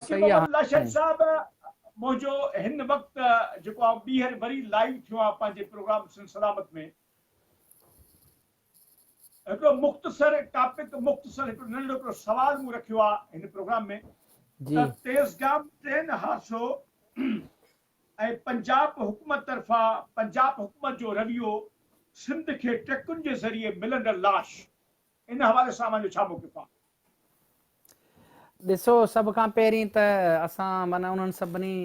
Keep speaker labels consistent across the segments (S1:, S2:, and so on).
S1: سيد محمد لاشاري
S2: صاحب
S1: منهنجو هن وقت جيڪو آئون ٻيهر وري لائيو ٿيو آهيان پنهنجي پروگرام سنڌ سلامت ۾ هڪڙو مختصر ٽاپڪ مختصر هڪڙو ننڍڙو هڪڙو سوال مون رکيو آهي هن پروگرام ۾ ته تيزگام ٽرين حادثو ۽ پنجاب حڪومت طرفان پنجاب حڪومت جو رويو سنڌ کي ٽرڪن جي ذريعي ملندڙ لاش ان حوالي سان اوهان جو ڇا موقف آهي؟
S2: ڏسو سڀ کان پهرين ته اسان معنيٰ انهن سڀني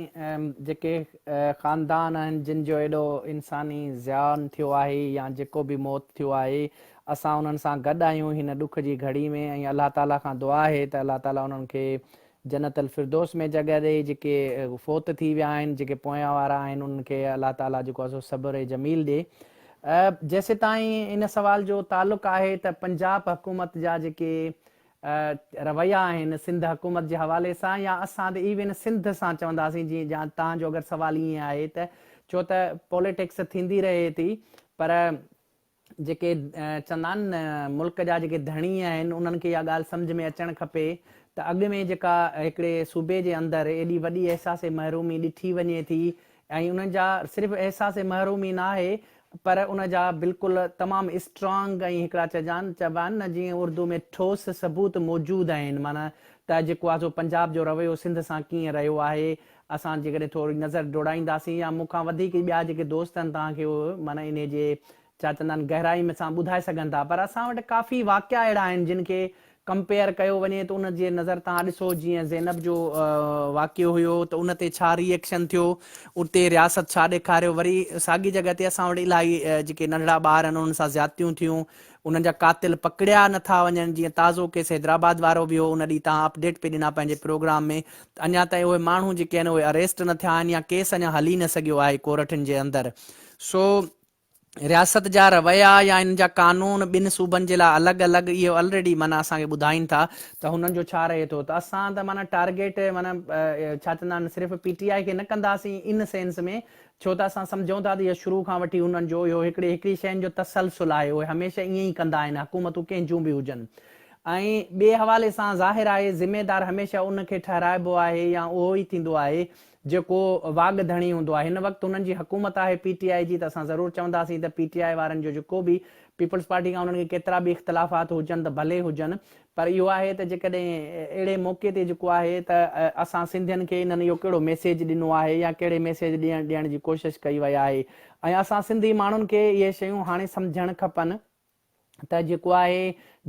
S2: جيڪي خاندان آهن جن جو ايڏو انساني زيان ٿيو آهي يا جيڪو به موت ٿيو آهي اسان انهن سان گڏ آهيون هن ڏک جي گهڙي ۾ ۽ الله تعالي کان دعا آهي ته الله تعالي انهن کي جنت الفردوس ۾ جڳهه ڏئي، جيڪي فوت ٿي ويا آهن، جيڪي پويان وارا آهن انهن کي الله تعاليٰ جيڪو آهي سو صبر جميل ڏي. جيسيتائين ان سوال جو تعلق آهي ته پنجاب حڪومت جا جيڪي رويا آهن سنڌ حڪومت جي حوالي سان يا اسان ته ايون سنڌ سان چونداسين جي جا تان جو اگر سوال ائين آهي ته ڇو ته پوليٽڪس ٿيندي رهي ٿي پر جيڪي چوندا آهن نه ملڪ جا جيڪي ڌڻي آهن انهن کي اها ڳالهه سمجهه ۾ اچڻ کپي ته اڳ ۾ جيڪا هڪڙي صوبي جي اندر ايڏي وڏي احساس محرومي ڏٺي وڃي ٿي ۽ انهن جا صرف احساس محرومي ناهي پر ان جا بلڪل تمام اسٽرانگ ۽ هڪڙا چئجان چئبا آهن نه جيئن اردو ۾ ٺوس ثبوت موجود آهن معنيٰ ته جيڪو آهي سو پنجاب جو رويو سنڌ سان ڪيئن رهيو آهي اسان جيڪڏهن ٿوري نظر ڊوڙائينداسين يا مون کان وڌيڪ ئي ٻيا جيڪي دوست آهن توهان کي اهي معنيٰ انهيء جي ڇا چوندا آهن گهرائي ۾ سان ٻڌائي سگهن ٿا پر اسان وٽ ڪافي واقعا اهڙا آهن جن کي ڪمپيئر ڪيو وڃي ته ان جي نظر توهان ڏسو جيئن زينب جو واقعو هيو ته ان تي ڇا ري ايڪشن ٿيو اتي رياست ڇا ڏيکاريو وري ساڳي جڳهه تي اسان وٽ الاهي جيڪي ننڍڙا ٻار آهن انهن سان زيادتيون ٿيون انهن جا قاتل پڪڙيا نه ٿا وڃن جيئن تازو ڪيس حيدرآباد وارو به هو ان ڏينهن تهان اپڊيٽ پئي ڏنا پنهنجي پروگرام ۾ ته اڃا تائين اهي ماڻهو جيڪي آهن اهي اريسٽ نه ٿيا آهن يا ڪيس اڃا هلي نه سگهيو آهي ڪورٽن جي اندر سو رياست جا رويا يا ان جا قانون ٻن صوبن جي لاء الڳ الڳ اهي الريڊي معنيٰ اسان کي ٻڌائين ٿا ته هنن جو ڇا رهي ٿو ته اسان ته معنيٰ ٽارگيٽ معنيٰ ڇا چوندا آهن صرف پي ٽي آء کي نه ڪنداسين ان سينس ۾ ڇو ته اسان سمجهون ٿا ته اهو شروع کان وٺي هنن جو اهو هڪڙي هڪڙي شين جو تسلسل آهي اهي هميشه ائين ئي ڪندا آهن حڪومتون ڪنهن جون به هجن ۽ ٻئي حوالي سان ظاهر آهي ذميدار هميشه ان کي ٺهرائبو آهي يا اهو ئي ٿيندو آهي جيڪو واڳ ڌڻي هوندو آهي هن وقت هنن جي حڪومت آهي پي ٽي آء جي ته اسان ضرور چونداسين ته پي ٽي آء وارن جو جيڪو به پيپلز پارٽي کان انهن کي ڪيترا به اختلافات هجن ته ڀلي هجن پر اهو آهي ته جيڪڏهن اهڙي موقعي تي جيڪو آهي ته اسان سنڌين کي انهن اهو ڪهڙو ميسيج ڏنو آهي يا ڪهڙي ميسيج ڏيڻ ڏيڻ جي ڪوشش ڪئي وئي آهي ۽ اسان سنڌي ماڻهن کي اهي شيون هاڻي سمجهڻ کپن ته جيڪو آهي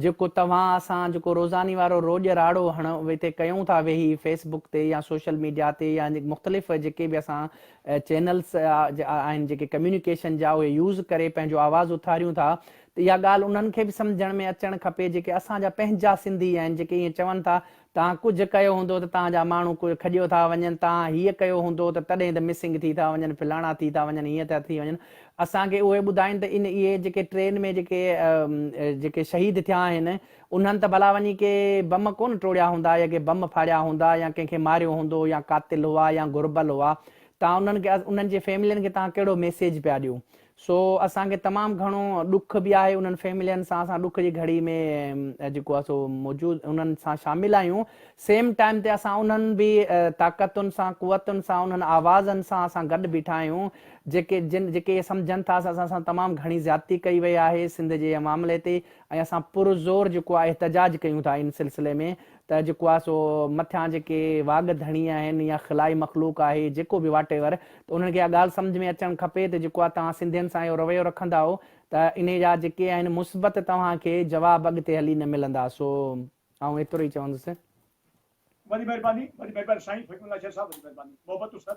S2: جيڪو توهان اسان جيڪو روزاني وارو روڄ راڙو هڻ هتي ڪيون ٿا ويهي فيس بڪ تي يا سوشل ميڊيا تي يا مختلف جيڪي به اسان چينلس آهن جيڪي ڪميونيڪيشن جا اهي يوز ڪري پنهنجو آواز اٿاريون ٿا ته اها ڳالهه انهن کي به سمجهڻ ۾ اچڻ کپي جيڪي اسان جا پنهنجا سنڌي آهن جيڪي ائين چون ٿا توهان ڪجهه ڪيو هوندو ته توهان جا ماڻهو ڪوئي کڄيو ٿا وڃن توهان هيء ڪيو هوندو ته تڏهن ته مسنگ ٿي ٿا وڃن فلاڻا ٿي ٿا وڃن هيئن ٿا ٿي وڃن اسان کي اهي ٻڌائين ته ان اهي جيڪي ٽرين ۾ جيڪي جيڪي شهيد ٿيا آهن انهن ته ڀلا وڃي ڪي بم ڪونه ٽوڙيا هوندا يا ڪي بم ڦاڙيا هوندا يا ڪنهن کي ماريو هوندو يا قاتل هئا يا گهربل هئا توهان انهن کي انهن جي فيملين کي توهان ڪهڙو ميسيج پيا ڏيو سو اسان کي تمام گهڻو ڏک به آهي انهن فيملين سان اسان ڏک جي گهڙي ۾ جيڪو آهي سو موجود انهن سان شامل آهيون سيم ٽائيم تي اسان انهن به طاقتن سان قوتن سان انهن آوازن سان اسان گڏ بيٺا آهيون جيڪي جن جيڪي اهي سمجهن ٿا اسان سان تمام گهڻي زيادتي ڪئي وئي آهي سنڌ جي معاملي تي ۽ اسان پرزور جيڪو آهي احتجاج ڪيون ٿا ان سلسلي ۾ ته جيڪو آهي سو مٿيان جيڪي واڳ ڌڻي آهن يا خلائي مخلوق آهي جيڪو به واٽ ايور ته انهن کي اها ڳالهه سمجهه ۾ اچڻ کپي ته جيڪو آهي توهان سنڌين سان اهو رويو رکندا ته انهي جا جيڪي آهن مثبت توهان کي جواب اڳتي هلي نه ملندا سو آئون ايترو ئي چوندس. وڏي مھرباني وڏي مھرباني سائين حڪم
S1: الله شير
S2: صاحب
S1: وڏي مھرباني محبتون سر.